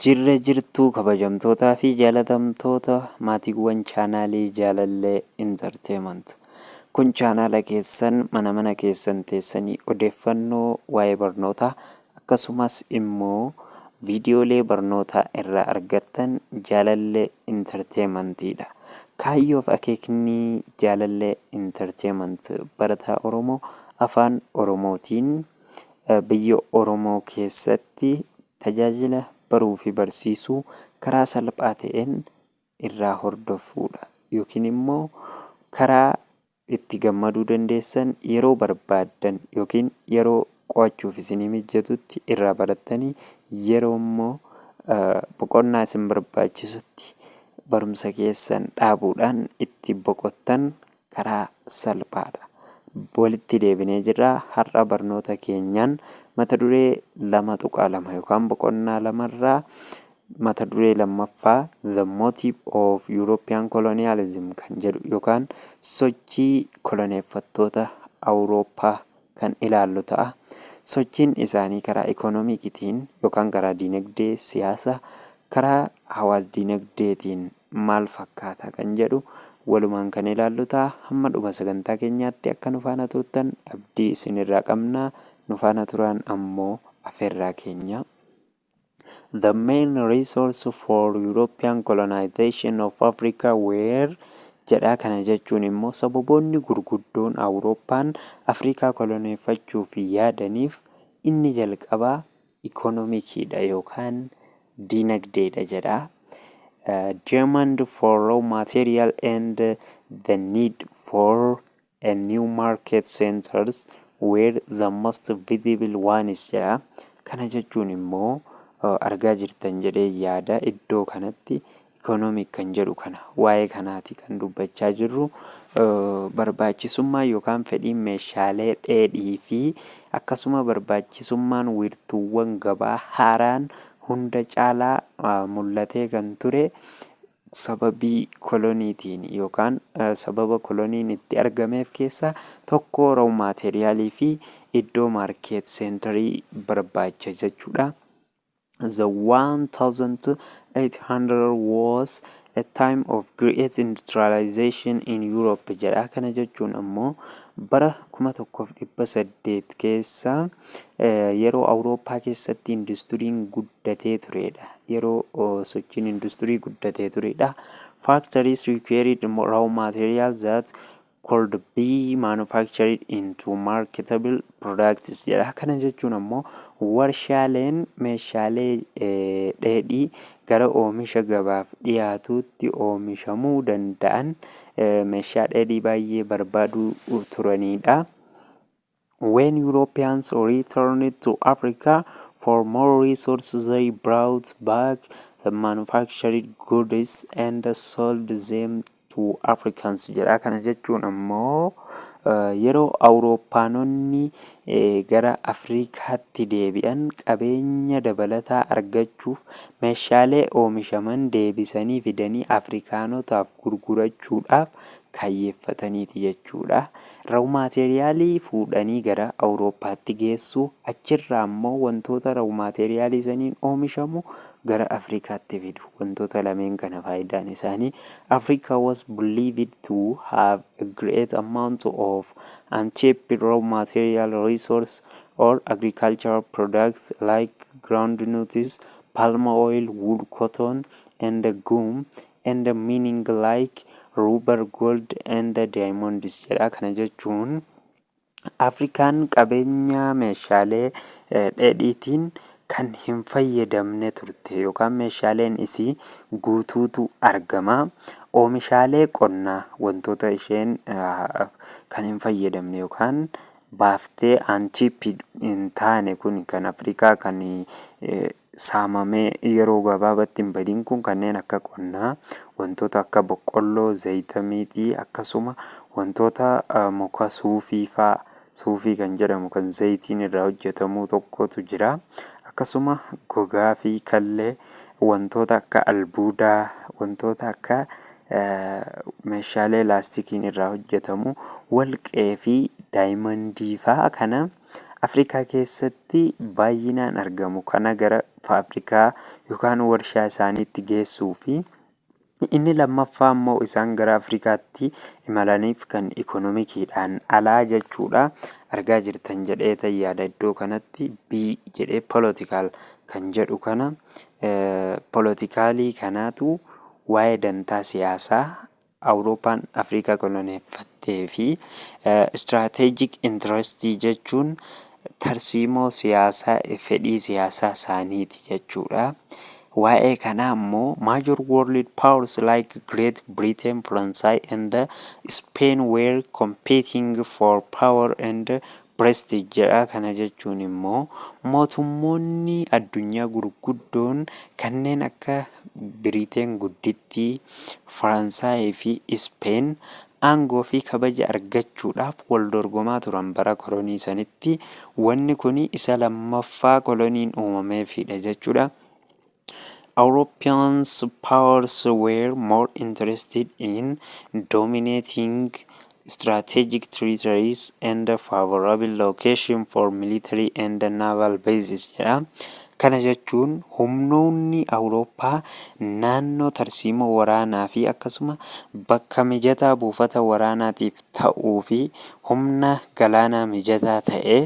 Jirra jirtuu kabajamtootaa fi jaalatamtoota maatiiwwan chaanaalii jaalallee intarteemant. Kun chaanaala keessan mana mana keessan teessanii odeeffannoo waa'ee barnootaa akkasumas immoo viidiyoolee barnootaa irraa argattan jaalallee intarteemantiidha. Kaayyoof akeekni jaalallee intarteemant barataa Oromoo afaan Oromootiin biyya Oromoo keessatti tajaajila baruu fi barsiisuu karaa salphaa ta'een irraa hordofuu dha. Yookiin immoo karaa itti gammaduu dandeessan yeroo barbaaddan yookiin yeroo qo'achuuf isinii mijjatutti irraa barattanii yeroo immoo boqonnaa isin barbaachisutti barumsa keessan dhaabuudhaan itti boqottan karaa salphaadha. Walitti deebinee jirra. Har'a barnoota keenyaan mata duree 2.2 yookaan boqonnaa lamarraa mata duree lammaffaa The Motive of European Colonialism kan jedhu yookaan sochii koloneeffattoota Awurooppaa kan ilaallu ta'a. Sochiin isaanii karaa ikoonomiikitiin yookaan karaa dinagdee, siyaasa, karaa hawaas-dinagdeetiin maal fakkaata kan jedhu walumaan kan ilaallu ta'a. Hamma dhuma sagantaa keenyaatti akka nu faana turtan abdii isinirraa qabna. Nu faana turaan ammoo afeerraa keenya. The main resource for European colonization of Africa were jedhaa kana jechuun immoo sababoonni gurguddoon Awurooppaan Afrikaa koloneeffachuuf yaadaniif inni jalqabaa ikoonomikiidha yookaan diinagdeedha jedha. Uh, demand for raw material and the need for a new market centers were the most visible ones jedha. Kana jechuun immoo argaa jirtan jedhee yaada iddoo kanatti economic kan jedhu kana waa'ee kanaati kan dubbachaa jirru barbaachisummaa yookaan fedhiin meeshaalee dheedhii fi akkasuma barbaachisummaan wiirtuuwwan gabaa haaraan hunda caalaa mul'atee kan ture sababii koloniitiin yookaan sababa koloniin itti argameef keessaa tokko raw material fi iddoo market center barbaacha jechuudha. The 1800 was a time of great industrialization in Europe jedha. Kana jechuun ammoo bara 1800 keessa yeroo Awurooppaa keessatti industiriin guddaa guddatee ture dha. Yeroo sochiin industirii guddatee ture dha. Factories required raw material that could be manufactured into marketable products jedha. Kana jechuun ammoo warshaaleen meeshaalee dheedhii gara oomisha gabaaf dhiyaatuutti oomishamuu danda'an meeshaa dheedhii baay'ee barbaaduu turaniidha. When Europeans returned to Africa for more resources they brought back manufactured goods and sold them to Africans jedha. Kana jechuun ammoo eh, yeroo Awurooppaanonni eh, gara Afrikaatti deebi'an qabeenya dabalataa argachuuf meeshaalee oomishaman deebisanii fidanii Afrikaanotaaf gurgurachuudhaaf kaayyeeffataniiti jechuudha. Rawumaateeriyaalii fuudhanii gara Awurooppaatti geessu, achirraa immoo wantoota rawumaateeriyaalii saniin oomishamu gara Afrikaatti fidu. Wantoota lameen kana faayidaan isaanii, Africa was believed to have a great amount of and cheap raw material resource or agricultural products like groundnuts, palm oil, wool, cotton, and gum and meaning like ruber gold and diamonds jedha kana jechuun Afrikaan qabeenya meeshaalee dheedhiitiin kan hin fayyadamne turte yookaan meeshaaleen isii guutuutu argama. Oomishaalee qonnaa wantoota isheen kan hin fayyadamne yookaan baaftee aanchiippi hin taane kun kan Afrikaa kan saamamee yeroo gabaabaatti hin badin kun kanneen akka qonnaa, wantoota akka boqqolloo, zayita, miixii akkasuma wantoota muka suufii faa suufii kan jedhamu kan zayitiin irraa hojjetamuu tokkotu jira. Akkasuma gogaa fi kallee wantoota akka albuudaa wantoota akka meeshaalee laastikiin irraa hojjetamu walqee fi daayimandii faa kana Afrikaa keessatti baay'inaan argamu kana gara faabrikaa yookaan warshaa isaaniitti geessuu fi inni lammaffaa immoo isaan gara Afrikaatti imalaniif kan ikoonomikiidhaan alaa jechuudha argaa jirtan jedhee ta'e yaada iddoo kanatti B jedhee political kan jedhu kana politikaalii kanaatu waa'ee dantaa siyaasaa Awurooppaan Afrikaa koloneeffattee fi strategic interest jechuun tarsiimoo siyaasaa fedhii siyaasaa isaaniiti jechuudha. Waa'ee kanaa immoo major world powers like Great Britain, Faransaay and Spain were competing for power and Prestige jedha, kana jechuun immoo mootummoonni addunyaa gurguddoon kanneen akka Biriteen Guddittii, Faransaayii fi Ispeen aangoo fi kabaja argachuudhaaf wal dorgomaa turan bara kolonii sanitti. Wanni kun isa lammaffaa koloniin uumameefiidha jechuudha. Europeans powers were more interested in dominating strategic territories and favorable location for military and naval bases jedha. Kana jechuun humnoonni Awurooppaa naannoo tarsiimoo waraanaa fi akkasuma bakka mijataa buufata waraanaatiif ta'uu fi humna galaanaa mijataa ta'e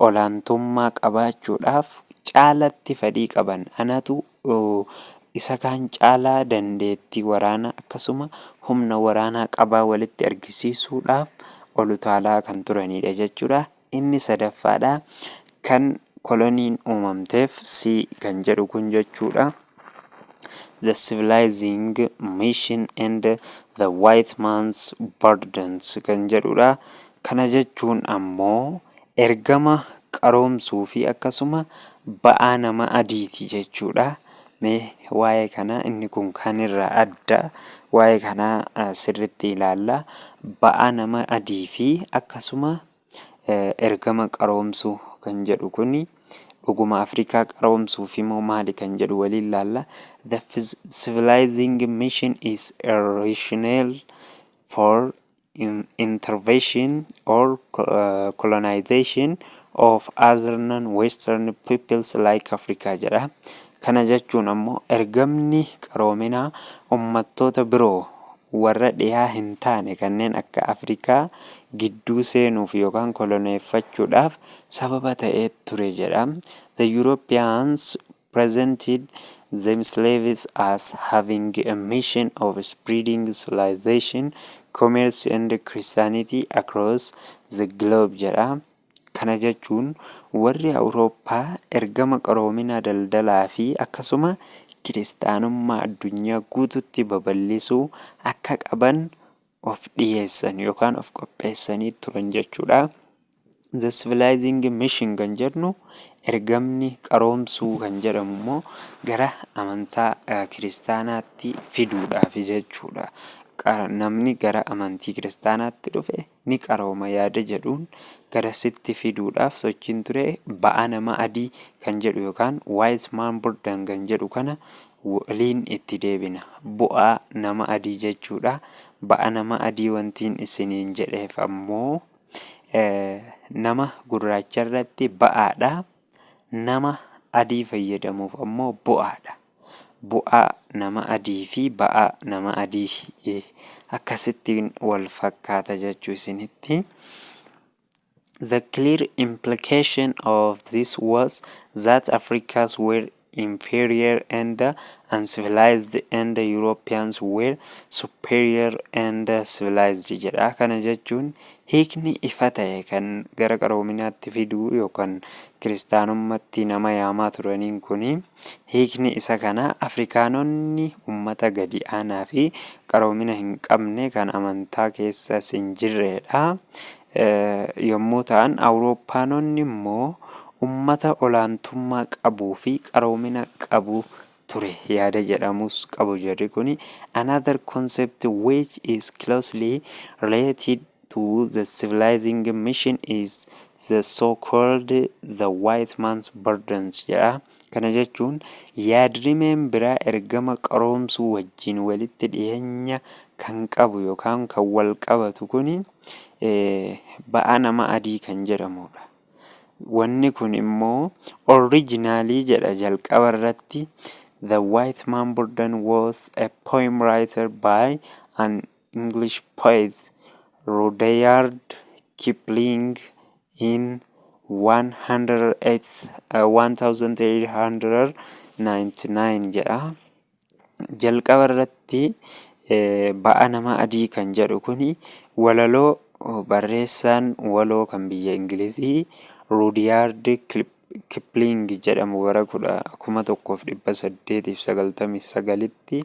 olaantummaa qabaachuudhaaf caalatti fedhii qaban, anatu isa kaan caalaa dandeettii waraanaa akkasuma humna waraanaa qabaa walitti argisiisuudhaaf ol utaalaa kan turaniidha jechuudha. Inni sadaffaadha kan koloniin uumamteef C kan jedhu kun jechuudha. The Civilizing Mission and the White Man's Burdens kan jedhudha. Kana jechuun ammoo ergama qaroomsuu fi akkasuma ba'aa nama adiiti jechuudha. Mee waa'ee kanaa inni kun kan irraa adda waa'ee kanaa sirritti ilaalla. Ba'aa nama adii fi akkasuma Ergama qaroomsu kan jedhu kun dhuguma Afrikaa qaroomsuufimoo maali kan jedhu waliin laalla. The civilizing mission is a rationale for intervention or colonization of other non-western peoples like Africa jedha. Kana jechuun ammoo ergamni qaroominaa ummattoota biroo warra dhihaa hin taane kanneen akka Afrikaa gidduu seenuuf yookaan koloneeffachuudhaaf sababa ta'ee ture jedha. The Europeans presented themselves as having a mission of spreading civilization, commerce and Christianity across the globe jedha. Kana jechuun warri Awurooppaa ergama qaroomina daldalaa fi akkasuma Kiristaanummaa addunyaa guututti babal'isuu akka qaban of dhiyeessan yookaan of qopheessanii turan jechuudha. The Civilizing Mission kan jedhu ergamni qaroomsuu kan jedhamu immoo gara amantaa eh, kiristaanaatti fiduudhaaf jechuudha. Qa- Namni gara amantii kiristaanaatti dhufe ni qarooma yaada jedhuun gara sitti fiduudhaaf sochiin ture ba'aa nama adii kan jedhu yookaan wise man burden kan jedhu kana waliin itti deebina. Bu'aa nama adii jechuudha. Ba'a nama adii wantiin isiniin jedheef ammoo nama gurraacha irratti ba'aadha. Nama adii fayyadamuuf ammoo bu'aadha. Bu'aa nama adii fi ba'aa nama adii akkasittiin wal fakkaata jechuu isinitti. The clear implication of this was that Africans were inferior and uncivilized and Europeans were superior and civilized jedha. Kana jechuun hiikni ifa ta'e kan gara qaroominaatti fidu yookaan kiristaanummatti nama yaamaa turaniin kun hiikni isa kana Afrikaanonni ummata gadi aanaa fi qaroomina hin qabne kan amantaa keessas hin jirreedha. yommuu ta'an, Awurooppaanonni immoo ummata olaantummaa qabuu fi qaroomina qabu ture yaada jedhamus qabu jarri kuni. Another concept which is closely related to the civilizing mission is the so called the white man's burdens jedha. Kana jechuun yaadrimeen biraa ergama qaroomsuu wajjin walitti dhiyeenya kan qabu yookaan kan wal qabatu kuni ba'aa nama adii kan jedhamudha. Wanni kun immoo originally jedha jalqaba irratti The White Man Burden was a poem writer by an English poet Rudyard Kipling in 1899 jedha. Jalqaba irratti ba'a nama adii kan jedhu kun walaloo barreessaan waloo kan biyya Ingilizii Ruudiyaard Kipliing jedhamu bara kudha kuma tokkoof dhibba saddeetiif sagaltamii sagalitti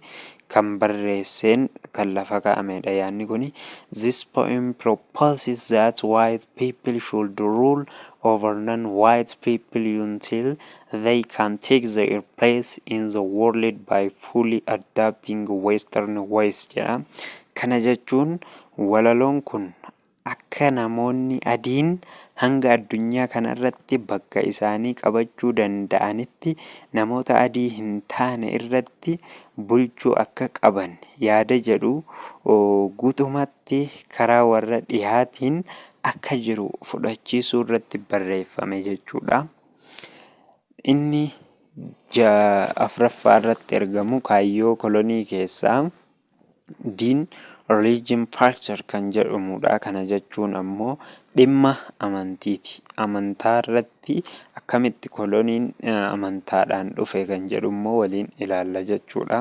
kan barreesseen kan lafa kaa'amedha yaadni kun. This poem proposes that white people should rule over non-white people until They can take their place in the world by fully adapting western ways jedha. Kana jechuun walaloon kun akka namoonni adiin hanga addunyaa kanarratti bakka isaanii qabachuu danda'anitti namoota adii hin taane irratti bulchuu akka qaban yaada jedhu guutumatti karaa warra dhihaatiin akka jiru fudhachiisuu irratti barreeffame jechuudha. Inni afraffaa irratti argamu kaayyoo kolonii keessaa diin religion factor kan jedhamudha. Kana jechuun ammoo dhimma amantiiti. Amantaa irratti akkamitti koloniin amantaadhaan dhufe kan jedhummoo waliin ilaalla jechuudha.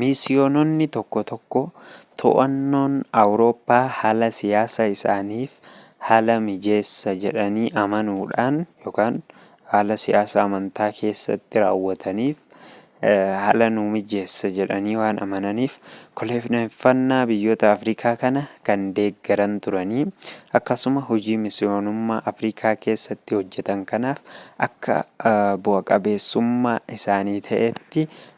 Misiyoononni tokko tokko to'annoon Awurooppaa haala siyaasa isaaniif haala mijeessa jedhanii amanuudhaan yookaan haala siyaasa amantaa keessatti raawwataniif haala nuu mijeessa jedhanii waan amananiif koloneeffannaa biyyoota Afrikaa kana kan deeggaran turanii akkasuma hojii misiyoonummaa Afrikaa keessatti hojjetan kanaaf akka bu'a qabeessummaa isaanii ta'etti